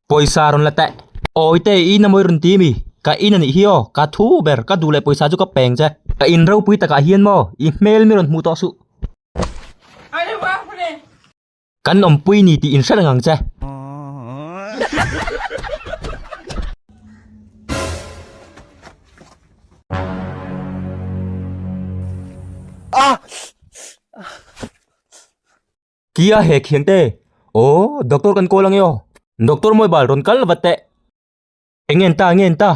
Pawisa rawn la teh. Awi teh i namawi rawn ti mi? Ka in a nih hi aw, ka thu ber, ka duh leh pawisa chu ka peng che. Ka in ropui takah hian maw i hmel mi rawn hmuh tawh suh. Kan awmpui ni tih in hre reng ang che. Kia he khian te. Oh, doctor kan call ange aw. Doctor mawi bal rawn kal vat teh. Eng en ta, eng en ta.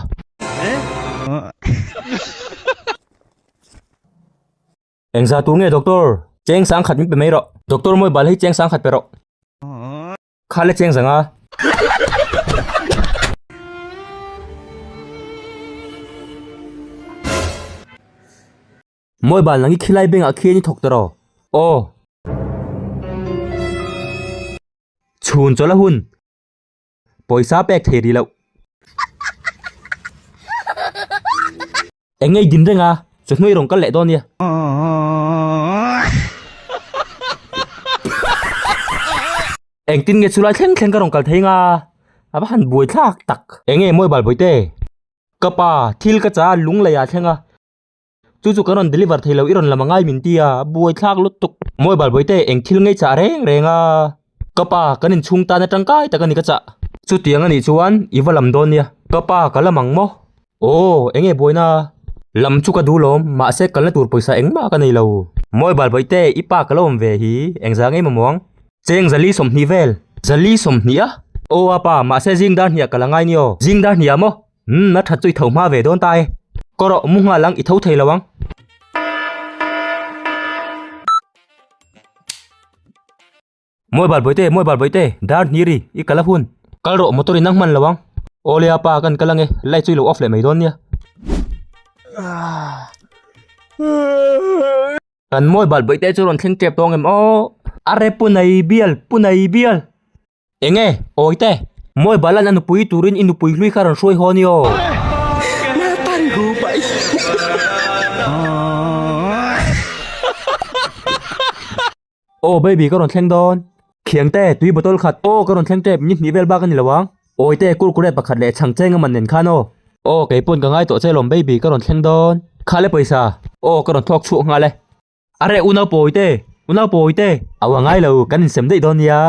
Engzah tur nge doctor? Cheng sang khat min pe mai rawh. Doctor mawi bal hi cheng sang khat pe rawh. Kha le cheng zang a. Mawi bal nang hi khilai beng ah khi an i thawk ta rawh. Aw. Chhun chawlh a hun. Pawisa pek thei ri loh. Eng nge i din reng a? Chu hnu i rawn kal leh dawn nia. Engtin nge chu lai thleng thleng ka rawn kal thei nga? A va han buai thlak tak. Eng nge mobile bawite? Ka pa, thil ka cha a lungleiah a thleng a. Chu chu kan rawn deliver thei lo i rawn la mangai min ti a, a buai thlak lutuk. Mawi Balbawi te eng thil ngei chah reng reng a, ka pa kan in chhung tan a tangkai tak a ni ka chah. Chutiang a nih chuan i va lam dawn nia. Ka pa ka la mang maw? Aw eng nge buaina? Lam chu ka duh lawm, mahse kal na tur pawisa eng mah ka nei lo. Mawi Balbawi te i pa ka lo awm ve hi, eng za ngei mamawng? Cheng Zali sawmhnih vel. Zali sawmhnih a? Aw a pa, mahse zing dar hnih ah ka la ngai ni aw, zing dar hnih ah maw? Umm, a that chu i tho hma ve dawn ta e. Kawr rawh, mu nghal ang, i tho thei lo ang. Mawi bal Bawihte, mawi bal Bawihte, dar hnir i, i kal a hun. Kal rawh, motor in a hman lo ang. Aw le a pa, kan kal ange, light chu i lo off leh mai dawn nia. Kan mawi bal Bawihte chu rawn thleng tep tawng em aw. Arre Punai bial, Punai bial. Enge? Awite? Mawi balan a nupui turin i nupui hlui kha rawn hruai haw ni aw. Naupang ru bai Aw baby ka rawn thleng dawn. Thiangte, tui bottle khat. Aw ka rawn thleng tep, ni hnih vel bak a ni lo ang. Awite, kurkure pakhat leh chhangcheng a man nen khan aw. Aw kei pawn ka ngai tawh che lawm baby ka rawn thleng dawn. Khale pawisa. Aw ka rawn thawk chhuak nghal e. Areh u nau pawi te, u nau pawi te. Au a ngai lo, kan in sem daih dawn nia.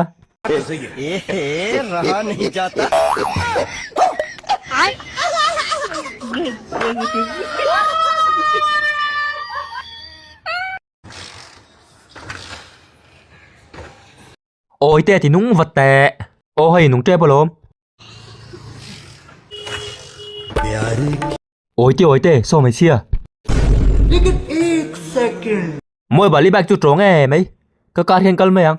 Awi te ti nung vat teh. Aw hei nung tep alawm. Awite awite saw hmeichhia. Mawi bali bike chu tawng e mai ka car hian kal mai ang.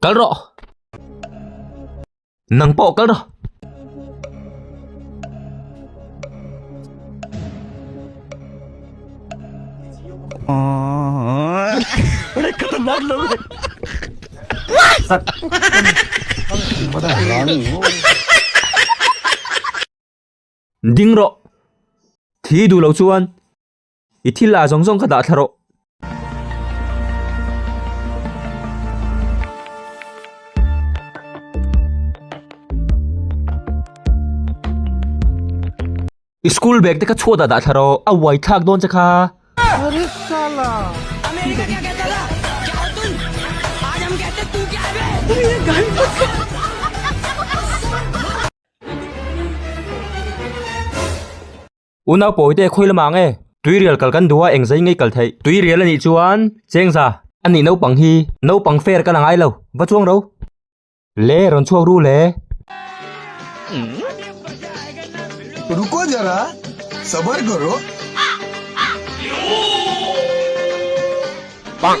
Kal rawh! Nang pawh kal rawh! Red ka tan nak lo. Sat. Mana lang. Ding ro. Thi du lo chuan. I thil ah zawng zawng ka dah thla rawh. I school bag te ka chhuah dah dah thla rawh. A uai thlak dawn che kha. Unau pawi te khawi lamah nge tuirial kal kan duh a eng zai ngei kal theih. Tuirial a nih chuan chengza a nih naupang hi naupang fair ka la ngai lo va chuang ro. Le rawn chhuak ru le. Ruko zara sabar karo. Bang.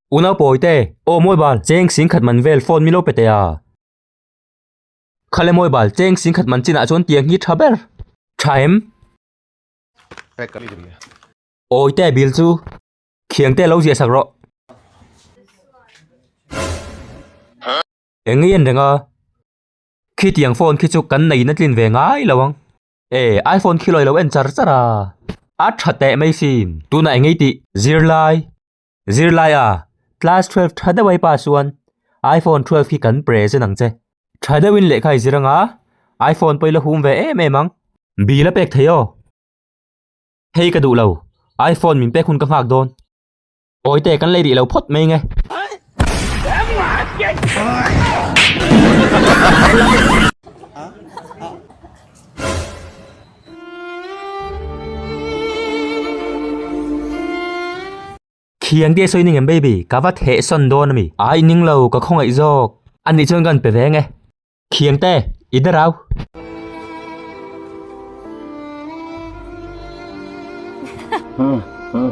Unau pawi te, Aw mawi bal, cheng sing khat man vel, phone milo pe tei a. Kha le mawi bal, cheng sing khat man chin ah chuan tiang hi tha ber. Tha em? Awi te, Bil chu? Khiang te, Lo ziah sak rawh. Eng nge an reng a? Khi tiang phone khi chu kan nei in a tlin ve ngai lo ang. E, iPhone khi lo i lo en char char a. A tha teh mai sin. Tunah eng nge i tih? Zir lai. Zirlaia, Class twelve tha deuh aipa chuan iPhone twelve hi kan present ang che. Tha deuhin lehkha i zir anga, iPhone pawh i la hum ve em em ang. Bil a pek thei aw. Hei ka duh lo, iPhone min pek hun ka nghak dawn. Awite kan lei rih lo phawt mai nge. Thian tih a sawi ning em baby, ka va theh sawn dawn a mi. Ai ning lo, ka khawngaih zawk. A nih chuan kan pe ve nge. Thian te, i de rau. Huh, huh.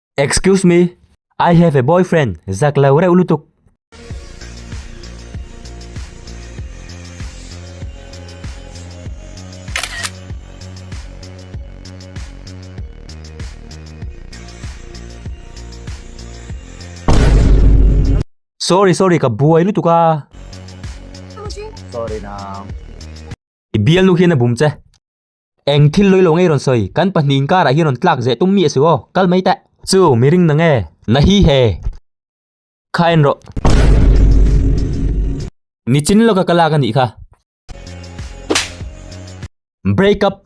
Excuse me, I have a boyfriend zak lo reuh lutuk. Sorry sorry ka buai lutuk a. Sorry nang. I bial nu hian a bum che. Eng thil lawilo ngei rawn sawi? Kan pahnih inkarah hi rawn tlak zeh tum mi a si aw, kal mai teh. Chu mi ring na nge? Na hi he. Kha en rawh. Nichin lawka ka lak a nih kha. Break up.